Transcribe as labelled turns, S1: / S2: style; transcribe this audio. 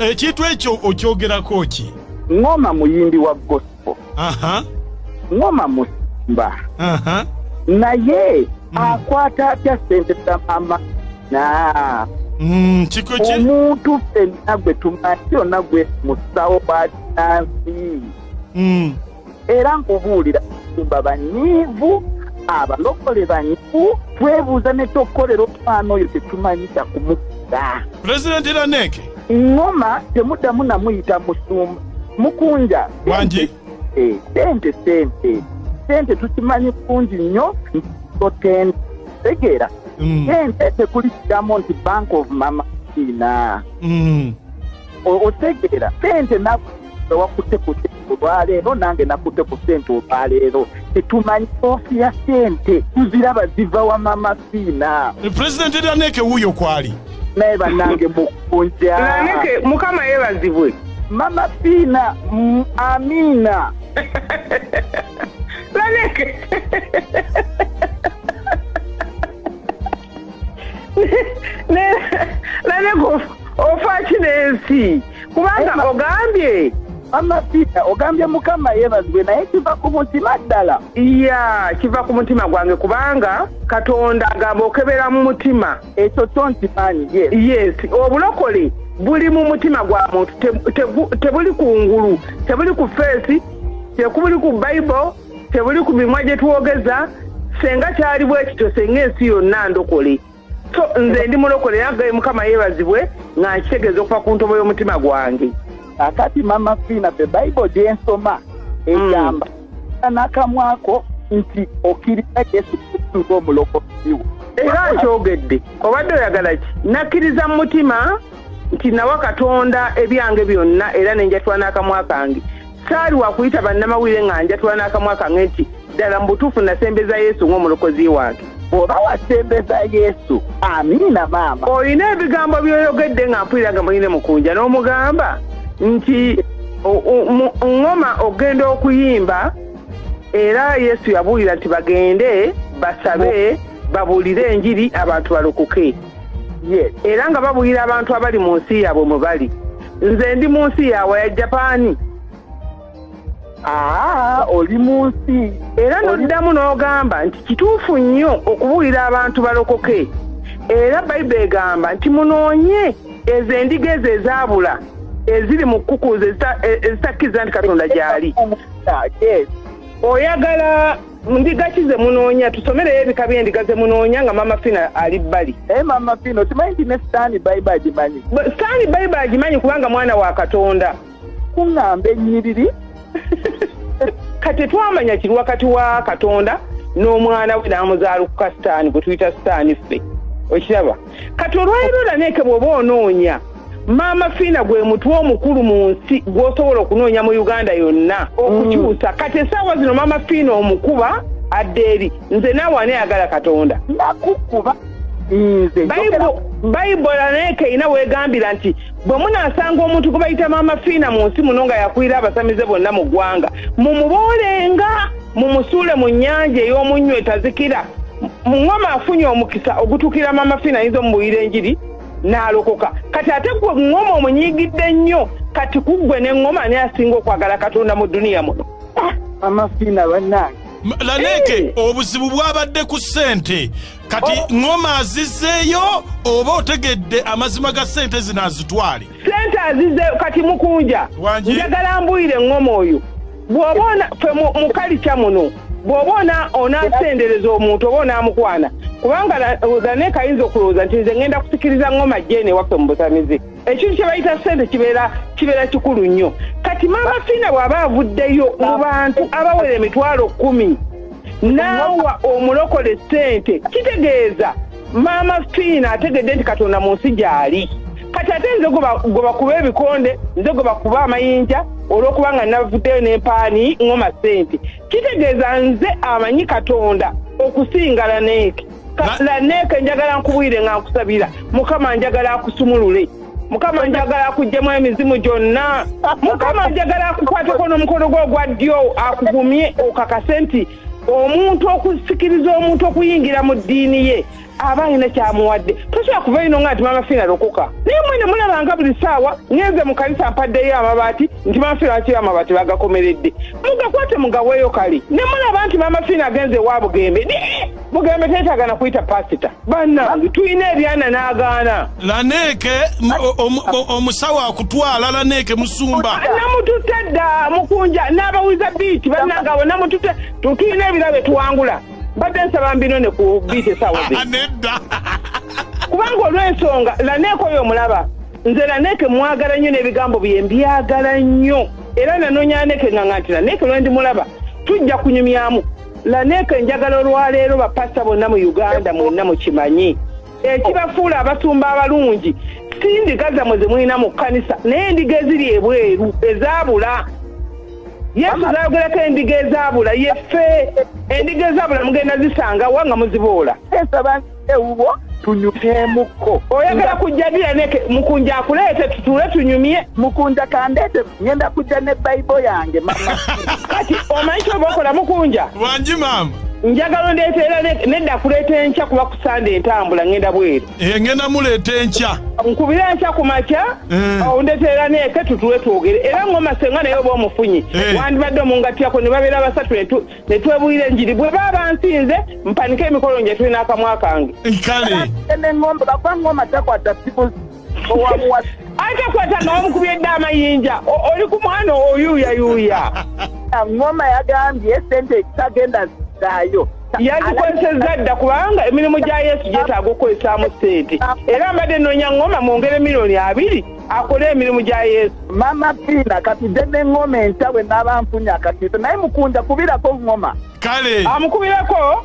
S1: ekintu ekyo okyogerako ki ngoma muyimbi
S2: wa gospel ngoma musimba naye mm. akwata atya sente za mama na mm,
S1: omuntu
S2: fenna gwe tumanyi yonna gwe musawo bakinansi mm. era nkubuulira tumba banyiivu abalokole banyivu twebuuza ne kyokukolera omwana oyo tetumanyita kumukira pulezidenti raneke
S1: ŋoma
S2: temuddamu namuyita musumba mukunja wangi eh,
S1: sente sente
S2: sente tukimanyi kungi nnyo ntoten tegeera mm. sente tekuli kidamu nti bank of mama ina mm. otegeera sente nawakutte ku sente olwaleero nange nakutte ku sente olwaleero tetumanyi ofi ya sente tuziraba ziva wa mama fiina pulezidenti eraneke
S1: wuuyo kwali naye banange
S2: mukunja laneke mukama
S3: yebazibwe mama fiina
S2: mm, amiina
S3: laneke naye ofaaki n'ensi kubanga ogambye amasiita
S2: ogambye mukama yebazibwe naye kiva ku mutima ddala ya kiva
S3: ku mutima gwange kubanga katonda agamba okebera mu mutima ekyo kyo nkimanyi
S2: yes
S3: obulokole buli mu mutima gwa muntu tebuli ku ngulu tebuli ku feesi tekubuli ku bible tebuli ku mimwa gye twogeza senga kyali bwe kityo senga ensi yonna ndokole so nze ndi mulokole nagaye mukama yeebazibwe nga nkitegeeza okuva ku ntobo y'omutima gwange akati mama
S2: fiina the bible gyensoma egamba hmm. nakamwako nti okkiriza yesu kristu ng'omulokoziwo era nkyogedde
S3: obadde oyagala ki nakkiriza mu mutima nti nawa katonda ebyange byonna era nenjatula n'akamwa kange saali wakuyita bannamawulire nga njatula n'akamwa kange nti ddala mu butuufu nasembeza yesu ng'omulokozi wange bw'oba wasembeza
S2: yesu amiina maama olina ebigambo
S3: byoyogedde nga mpulira nga muline mukunja n'omugamba nti ŋŋoma ogenda okuyimba era yesu yabuulira nti bagende basabe babuulire enjiri abantu balokoke era nga babuulira abantu abali mu nsi yaabwe mwe bali nze ndi mu nsi yawa ya japaani aa
S2: oli mu nsi era noddamu
S3: n'ogamba nti kituufu nnyo okubuulira abantu balokoke era bayibuli egamba nti munoonye ezo endiga ezo ezaabula eziri mu kkukuuzo ezitakkiriza nti katonda gyali oyagala ndiga ki ze munoonya tusomereyo ebika by'endiga ze munoonya nga maama fina ali bbali naye eh, maama fina okimanyi
S2: nti ne sitaani bayiba agimanyi sitaani bayiba
S3: agimanyi kubanga mwana wa katonda kuŋŋamba
S2: ennyiriri
S3: kati twamanya kiri wakati wa katonda n'omwana we n'amuzaala ku kasitaani gwe tuyita sitaani ffe okiraba kati olwaliro laneeke bwoba onoonya maama fiina gwe mutwe omukulu mu nsi gwosobola okunoonya mu uganda yonna okukyusa mm. kati esaawa zino maama fiina omukuba adde eri nze naawe aneyagala katonda nakukuba
S2: nze
S3: bayibola naye keina wegambira nti bwe munasanga omuntu gwebayita maama fiina mu nsi muno nga yakulira abasamize bonna mu ggwanga mumuboolenga mumusuule mu nnyanja ey'omunnyo etazikira muŋoma afunye omukisa ogutukira mama fina ayinza omubuyira enjiri n'alokoka kati ate gwe ŋoma omunyigidde nnyo kati kuggwe ne ŋoma ani asinga okwagala katonda mu duniya muno ah, mama fina
S2: bannange laneeke eh.
S1: obuzibu bwabadde ku ssente kati oh. ŋoma azizeeyo oba otegedde amazima ga ssente zino azitwale sente azize
S3: kati mukunja njagala mbuyire ngoma oyo bwoba ona fe mukalikya muno bwoba ona onasendereza omuntu oba onamukwana kubanga zaneka ayinza okulowooza nti nze ngenda kusikiriza ngoma jene waffe mu busamizi ekintu kyebayita sente kibeera kibeera kikulu nnyo kati maama fiina bw'aba avuddeyo mu bantu abawera emitwalo kumi naawa omulokole sente kitegeeza maama fiina ategedde nti katonda mu nsi gyali kati ate nze gwebakuba ebikonde nze gwebakuba amayinja olwokuba nga navuddeyo nempaani ngoma sente kitegeeza nze amanyi katonda okusinga laneeke laneeke njagala nkubwire nga nkusabira mukama njagala akusumulule mukama njagala akuggyemu emizimu gyonna mukama njagala akukwateko n'omukono gwe ogwa ddyo akugumye okakase nti omuntu okusikiriza omuntu okuyingira mu ddiini ye aba alina kyamuwadde tosobola kuva ino nga nti mama fiina lokoka naye mwene mulabanga buli saawa ngenze mu kanisa mpaddeyo amabaati nti mama fiina wakiri amabaati bagakomeredde mugakwate mugaweeyo kali ne mulaba nti mama fiina agenze ewa bugembe ne bugembe teetagana kuyita pasita banange tulina ebyana n'agaana laneeke
S1: omusawo akutwala laneeke musumba namututte dda
S3: mukunja n'abawuliza biiti banange abo namututte tulina ebira bye tuwangula mbadde nsaba mbino ne ku biiti esawo ah, nedda
S1: kubanga
S3: olw'ensonga laneeke oyo omulaba nze laneeke mwagala nnyo n'ebigambo bye mbyagala nnyo era nanonyaneke nga nganti laneeke lwendi mulaba tujja kunyumyamu laneeka enjagala olwaleero bapasita bonna mu uganda mwenna mukimanyi ekibafuula abasumba abalungi si ndiga zammwe zemulina mu kkanisa naye endiga eziri ebweru ezaabula yesu zayogerako endiga ezaabula yeffe endiga ezaabula mugenda zisangawa nga muziboola
S2: ewuwo tunyukeemukko oyagala kujja
S3: dira neke mukunja akuleete tutuule tunyumye mukunja kandeete
S2: ngenda kujja ne bayibo yange mama kati omanyi
S3: kyoba okola mukunja wangi maama
S1: njagala ondeeta
S3: era nedda kuleeta enkya kuba kusande entambula ngenda bweru eh, ngenda muleeta
S1: enkya nkubire enkya ku
S3: makya eh. ondeeta era neeke tutuule twogere era ng'omasenga naye oba omufunye eh. wandibadde omungatyako ne babeera basatu ne twebuulira enjiri bwe baaba nsinze mpanike emikolo nje tulina akamwa kange kaleengombe
S1: bakuba
S2: ngoma takwata siku owamuwa atakwata
S3: nga wamukubye dde amayinja oli ku mwana oyuuyayuuya ngoma
S2: yagambye sente ekitagenda zaayo yazikozesezza
S3: dda kubanga emirimu gya yesu gyetaaga okukozesaamu sente era mbadde noonya ngoma mwongere miliyoni abiri akole emirimu gya yesu mama piina
S2: katudde ne ngoma enkya bwe naaba nfunye akatiisa naye mukunja kubirako
S3: ngoma
S2: kale amukubireko